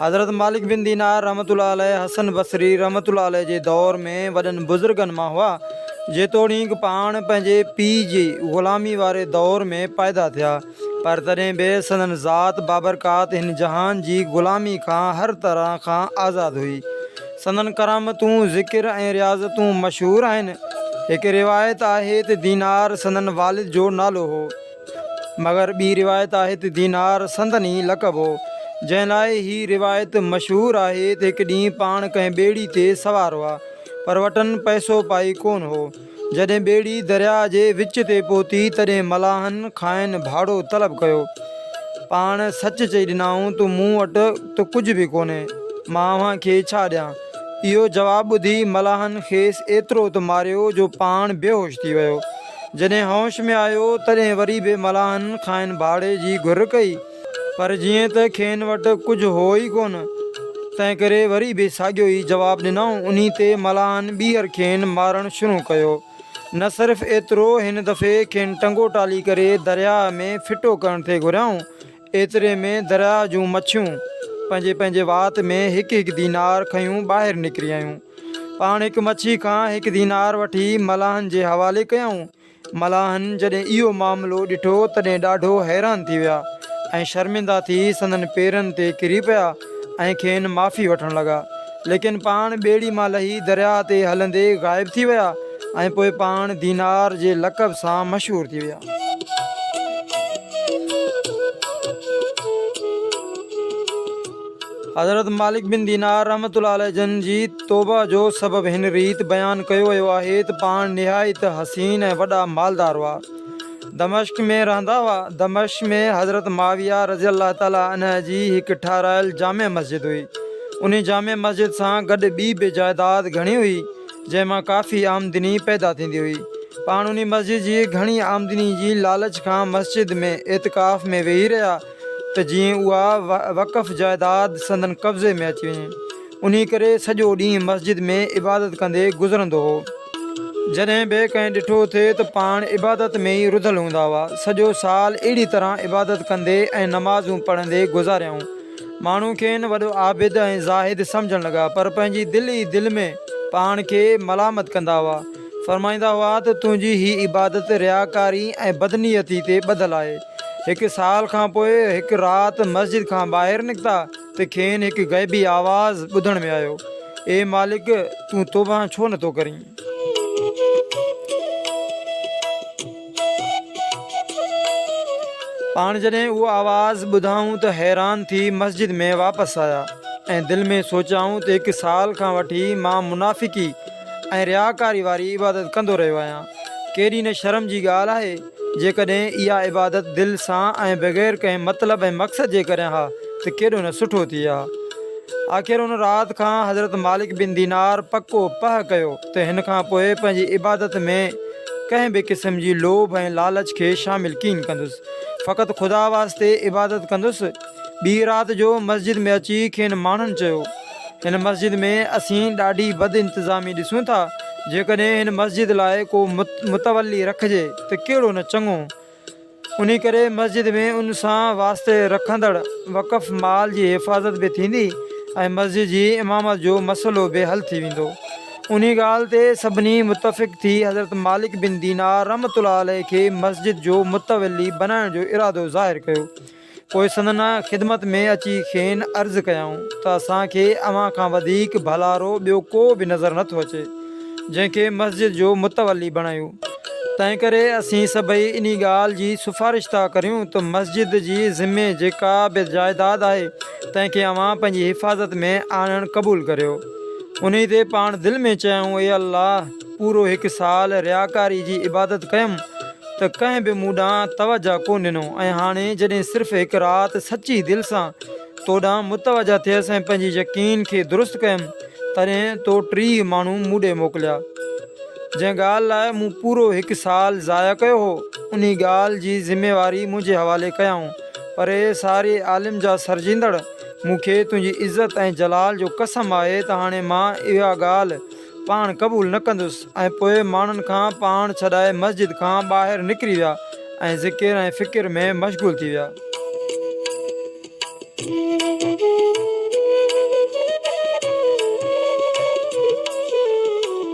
حضرت مالڪ بن دينار رحمة الله عليه حسن بصري رحمة الله عليه جي دور ۾ وڏن بزرگن مان هئا، جيتوڻيڪ پاڻ پنهنجي پيء جي غلامي واري دور ۾ پائيدا ٿيا، پر تڏهن به سندن ذات بابرڪات هن جهان جي غلامي کان هر طرح کان آزاد هئي. سندن ڪرامتون، ذڪر ۽ رياضتون مشهور آهن. هڪ روايت آهي ته دينار سندن والد جو نالو هو. مگر ٻي روايت آهي ته دينار سندن ئي لقب هو، جنهن لاء هي روايت مشهور آهي ته هڪ ڏينهن پاڻ ڪنهن ٻيڙي تي سوار هئا، پر وٽن پئسو پائي ڪونه هو. جڏهن ٻيڙي درياء جي وچ تي پهتي، تڏهن ملاحن کانئن ڀاڙو طلب ڪيو. پاڻ سچ چئي ڏنائون ته مون وٽ ته ڪجهه به ڪونهي، مان اوهان کي ڇا ڏيان؟ اهو جواب ٻڌي ملاحن کيس ايترو ته ماريو جو پاڻ بيهوش ٿي ويو. جڏهن هوش ۾ آيو تڏهن وري به ملاحن کانئن ڀاڙي جي گهر ڪئي پر جيئن ته کين وٽ ڪجهه هو ئي ڪونه تنهنڪري وري به ساڳيو ئي جواب ڏنائون انهي تي ملاحن ٻيهر کين مارڻ شروع ڪيو نه صرف ايترو هن دفعي کين ٽنگو ٽالي ڪري درياهه ۾ ڦٽو ڪرڻ تي گهريائون ايتري ۾ درياء جون مڇيون پنهنجي پنهنجي وات ۾ هڪ هڪ دينار کنيون ٻاهر نڪري آيون. پاڻ هڪ مڇي کان هڪ دينار وٺي ملاحن جي حوالي ڪيائون. ملاحن جڏهن اهو معاملو ڏٺو تڏهن ڏاڍو حيران ٿي ويا ۽ شرمنده ٿي سندن پيرن تي ڪري پيا ۽ کين معافي وٺڻ لڳا. ليڪن پاڻ ٻيڙي مان لهي درياء تي هلندي غائب ٿي ويا ۽ پوء پاڻ دينار جي لقب سان مشهور ٿي ويا. حضرت مالڪ بن دينار رحمة الله عليه جن جي توبه جو سبب هن ريت بيان ڪيو ويو آهي ته پاڻ نهايت حسين ۽ وڏا مالدار هئا. دمشق ۾ رهندا هئا. دمشق ۾ حضرت معاويه رضي الله تعالٰي عنه جي هڪ ٺهرايل جامع مسجد هئي. انهي جامع مسجد سان گڏ ٻي به جائداد گهڻي هئي، جنهن مان ڪافي آمدني پيدا ٿيندي هئي. پاڻ انهي مسجد جي گهڻي آمدني جي لالچ کان مسجد ۾ اعتڪاف ۾ ويهي رهيا ته جيئن اها وقف جائداد سندن قبضي ۾ اچي وڃي. انهي ڪري سڄو ڏينهن مسجد ۾ عبادت ڪندي گذرندو هو. جڏهن به ڪنهن ڏٺو ٿي ته پاڻ عبادت ۾ ئي رڌل هوندا هئا. سڄو سال اهڙي طرح عبادت ڪندي ۽ نمازون پڙهندي گذاريائون. ماڻهو کين وڏو عابد ۽ زاهد سمجهڻ لڳا، پر پنهنجي دل ئي دل ۾ پاڻ کي ملامت ڪندا هئا. فرمائيندا هئا ته تنهنجي هي عبادت رياڪاري ۽ بدنيتي تي ٻڌل آهي. هڪ سال کانپوء هڪ رات مسجد کان ٻاهر نڪتا. ته کين هڪ غيبي آواز ٻڌڻ ۾ آيو، اي مالڪ! تون توبه ڇو نه ٿو ڪرين؟ پاڻ جڏهن اهو آواز ٻڌائون ته حيران ٿي مسجد ۾ واپس آيا ۽ دل ۾ سوچيائون ته هڪ سال کان وٺي مان منافقي ۽ رياڪاري واري عبادت ڪندو رهيو آهيان، ڪيڏي نه شرم جي ڳالهه آهي. جيڪڏهن اها عبادت دل سان ۽ بغير ڪنهن مطلب ۽ مقصد جي ڪريان ها ته ڪيڏو نه سٺو ٿئي ها. آخر ان رات کان حضرت مالڪ بن دينار پڪو پهه ڪيو ته هن کان پوء پنهنجي عبادت ۾ ڪنهن به قسم جي لوڀ ۽ لالچ کي شامل ڪين ڪندس، فقط خدا واسطي عبادت ڪندس. ٻي رات جو مسجد ۾ اچي کين ماڻهن چيو. هن مسجد ۾ اسين ڏاڍي بد انتظامي ڏسون ٿا، جيڪڏهن هن مسجد لاء ڪو متولي رکجي ته ڪهڙو نه چڱو. انهي ڪري مسجد ۾ ان سان واسطي رکندڙ وقف مال جي حفاظت به ٿيندي ۽ مسجد جي امامت جو مسئلو به حل ٿي ويندو. انهي ڳالهه تي سڀني متفق ٿي حضرت مالڪ بن دينار رحمة الله عليه کي مسجد جو متولي بنائڻ جو ارادو ظاهر ڪيو. پوء سندن خدمت ۾ اچي کين عرض ڪيائون ته اسان کي اوهان کان وڌيڪ ڀلارو ٻيو ڪو به نظر نه ٿو اچي، جنهن کي مسجد جو متولي بڻايو. تنهنڪري اسين سڀئي انهي ڳالهه جي سفارش ٿا ڪريون ته مسجد جي ذمي جيڪا به جائداد آهي، تنهن کي اوهان پنهنجي حفاظت ۾ آڻڻ قبول ڪريو. انهي تي پاڻ دل ۾ چيائون اي الله! پورو هڪ سال رياڪاري جي عبادت ڪيم ته ڪنهن به مون ڏانهن توجهه ڪو ڏنو ۽ هاڻي جڏهن صرف هڪ رات سچي دل سان تو ڏانهن متوجهه ٿيس ۽ پنهنجي يقين کي درست ڪيم تڏهن تو ٽيهه ماڻهو مون ڏي موڪليا جنهن ڳالهه لاء مون پورو هڪ سال ضايع ڪيو هو انهي ڳالهه جي ذميواري منهنجي حوالي ڪيائون پر اي ساري عالم جا سرجيندڙ مون کي تنهنجي عزت ۽ جلال جو قسم آهي ته هاڻي مان اها ڳالهه پاڻ قبول نه ڪندس ۽ پوء ماڻهن کان پاڻ ڇڏائي مسجد کان ٻاهر نڪري ويا ۽ ذڪر ۽ فڪر ۾ مشغول ٿي ويا.